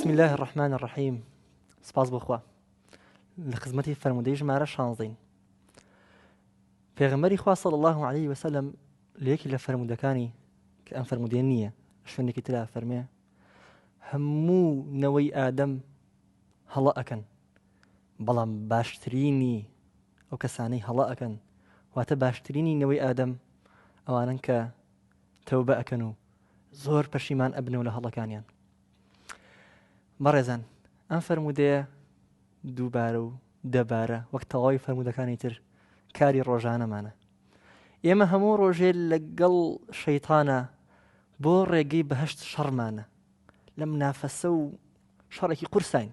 بسم اللە الرحمن الرحیم سپاس بۆ خوا لە خزمەتی فەرمودەی ژمارە شانزین پێغمبەری خوا صلی الله عليه وسلم لە یەکی لە فەرمودەکانی کە ئەم فەرمودێ نییە شوێنێکی ترا فەرمێ هەموو نەوەی ئادەم هەڵە ئەکەن بەڵام باشترینی ئەو کەسانەی هەڵە ئەکەن واتە باشترینی نەوەی ئادەم ئەوانەن کە تەوبە ئەکەن و زۆر پەشیمان ئەبنەوە لە هەڵەکانیان بەڕێزان ئەم فەرمودەیە دووبارە و دەبارە وەک تەواوی فەرمودەکانی تر کاری ڕۆژانەمانە ئێمە هەموو ڕۆژێ لەگەڵ شەیتانە بۆ ڕێگەی بەهشت شەڕمانە لەم نافەسە و شەڕێکی قورساین.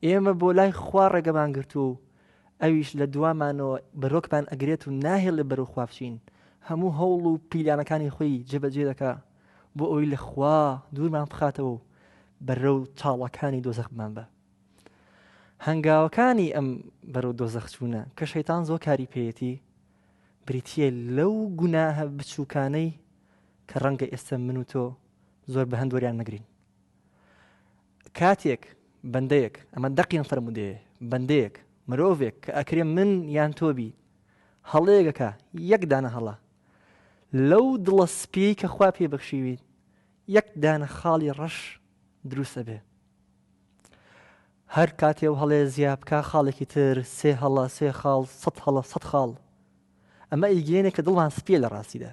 ئێمە بۆ لای خوا ڕێگەمان گرتووە و ئەویش لە دوامانەوە بەرۆکمان ئەگرێت و ناهێڵێ بەرەو خوا بچین، هەموو هەوڵ و پیلانەکانی خۆی جێبەجێ دەکا بۆ ئەوەی لە خوا دوورمان بخاتەوە و بەرەو چاڵەکانی دۆزەخ بمانبا. هەنگاوەکانی ئەم بەرەو دۆزەخ چوونە کە شەیتان زۆر کاری پێیەتی بریتییە لەو گوناهە بچووکانەی کە ڕەنگە ئێستا من و تۆ زۆر بە هەند وەریان نەگرین. کاتێک بەندەیەک، ئەمە دەق یان فەرموودەیە، بەندەیەک، مرۆڤێک کە ئەکرێ من یان تۆ بی، هەڵەیەک ئەکا، یەک دانە هەڵە، لەو دڵە سپییەی کە خوا پێی بەخشیوی، یەک دانە خاڵی ڕەش دروست ئەبێ. هەر کاتێ ئەو هەڵەیە زیا بکا، خاڵێکی تر، سێ هەڵە، سێ خاڵ، سەد هەڵە، سەد خاڵ. ئەمە ئیگێنێکە دڵمان سپییە لە ڕاستیدا.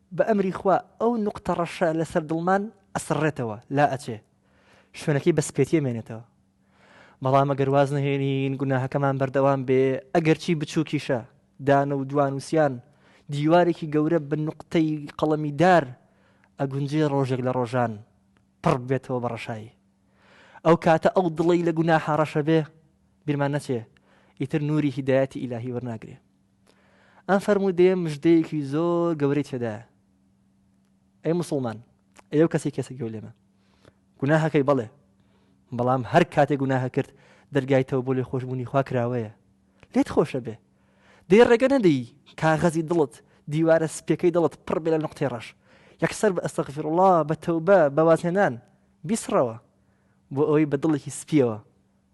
بە ئەمری خوا ئەو نوقتە ڕەشە لە سەر دڵمان ئەسڕێتەوە، لا ئەچێ، شوێنەکەی بە سپێتی ئەمێنێتەوە. بەڵام ئەگەر واز نەهێنین گوناهەکەمان بەردەوام بێ، ئەگەرچی بچووکیشە، دان و دوانووسیان، دیوارێکی گەورە بە نوقتەی قەڵەمی دار، ئەگونجێ ڕۆژێک لە ڕۆژان پڕ ببێتەوە بە ڕەشایی. ئەو کاتە ئەو دڵەی لە گوناحا ڕەشە بێ، بیرمان نەچێ، ئیتر نووری هیدایەتی ئیلاهی وەرناگرێ. ئەم فەرموودەیە مژدەیەکی زۆر گەورەی تێدایە ئەی مسلمان ئەو کەسی کەسە گەو لێمە گوناهەکەی بەڵێ بەڵام هەر کاتێک گوناهە کرد دەرگای تەوە بۆ لێ خۆشببوونی خوا کراوەیە لێت خۆشە بێ دێ ڕێگە نەدەی کاغەزی دڵت دیوارە سپەکەی دڵت پڕ بێ لە نقطی ڕەش یەکسەر بە ئەستەغفر الله بە تەوبە بەوازهێنان بیسڕەوە بۆ ئەوەی بە دڵێکی سپیەوە